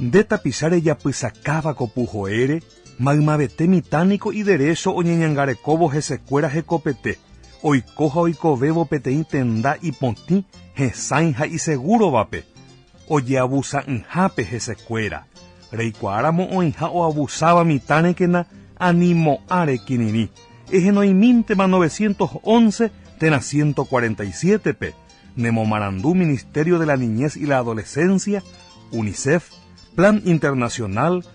Nde tapicha rejapysakáva ko puhoére, maymavete mitã niko iderécho oñeñangarekóvo hesekuéra hekopete, oiko ha oikovévo peteĩ tenda ipotĩ, hesãi ha isegúrovape, Ojeavusa'ỹhápe hesekuéra, reikuaáramo oĩha oavusáva mitã rekena ani mo'ã rekirirĩ, ehenoimíntema novecientos once térã ciento cuarenta y siete-pe, nemomarandu Ministerio de la Niñez y la Adolescencia, Unicef, Plan Internacional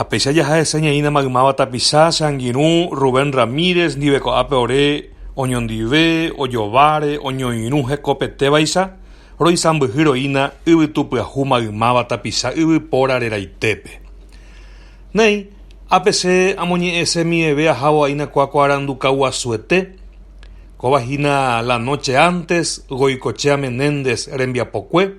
Ha péicha jaha hese ñaína maymáva tapicha, che angirũ Rubén Ramírez ndive ko'ápe ore oñondive, ojováre, oñoirũ hekopetévaicha, roisãmbyhy roína yvytu pyahu maymáva tapicha yvypóra reraitépe. Néi, ápe che amoñe'ẽse miveve ahávo aína kuakuarandu kauguasuete, kóva hína la noche antes Goicochea Menéndez rembiapokue,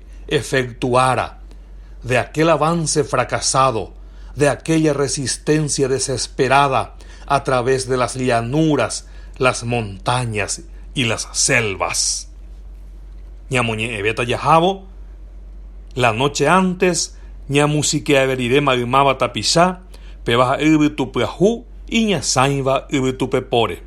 efektuára de aquel avance fracasado, de aquella resistencia desesperada a través de las llanuras, las montañas y las selvas. Ñamoñe'ẽvéta jahávo, la noche antes ñamusikeave rire maymáva tapicha, péva ha'e yvytu pyahu iñasãiva yvytupepóre.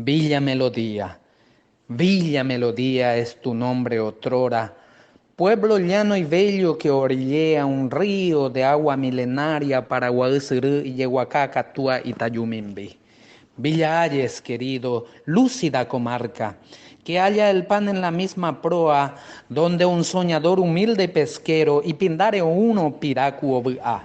Villa Melodía Villa Melodía es tu nombre otrora Pueblo llano y bello que orillea un río de agua milenaria Paraguay syry ijeguaka katua itajumimbi Villa Ayes querido lúcida comarca que halla el pan en la misma proa donde un soñador humilde pesquero ipindáre oúrõ piraku ovy'a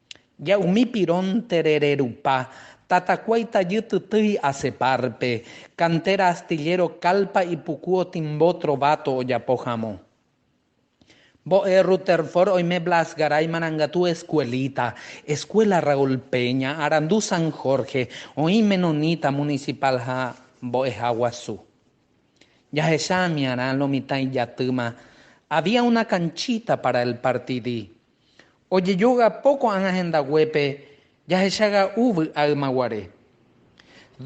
Ja umi pirón terere rupa, tatakuái tajy tytýi ase párpe, kantéra astilléro kálpa ipuku otimbo trováto ojapo hamo. Mbo'e Rutherford oime Blas Garay marangatu eskuelita, Eskuéla Raúl Peña, Arandu San Jorge, oĩ Menonita munisipál ha Mbo'eha Guasu. Jahecha amiarã lo mitã ijatýma, Había una canchita para el partidi, Ojejogapo ko'ág̃a hendaguépe jahechaga'u vy'a ymaguare.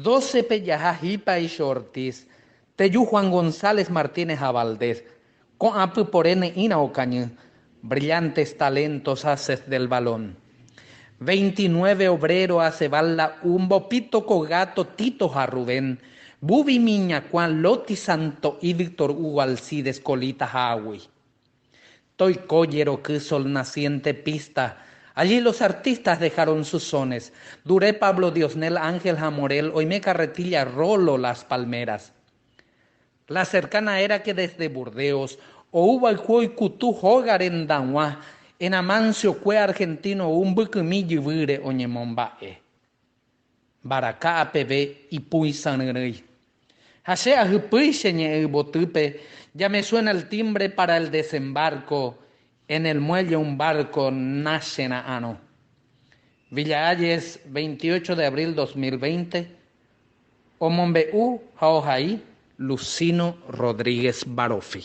Dócepe jaha Hipaicho Ortiz, Teju Juan González Martínez ha Valdés, ko'ã pypore ne'ĩrã okañy, Brillantes talentos haces del balón. Veintinueve obrero hace val la u Mbopito ko Gato Tito ha Rubén, Bubi Miñakuã, Loti Santo'i, Víctor Hugo Alcides, Colita ha Agui. Toiko jeroky sol naciente pista Allí los artistas dejaron sus sones, Dure Pablo Diosnel Ángel ha Morel oime carretilla Rolo Las Palmeras La cercana era que desde Burdeos ou vaiku oikutu hóga rendag̃ua En Amancio kue argentino ou mbykymi jyvýre oñemomba'e Mbaraka'a peve ipũi sãryrỹi. Ha che ahypýi che ñe'ẽ yvotýpe, Ya me suena el timbre para el desembarco, en el muelle un barco nachera'arõ. Villa Hayes, veintiocho de abril dos mil veinte, omombe'u ha ohai Lucino Rodríguez Barofi.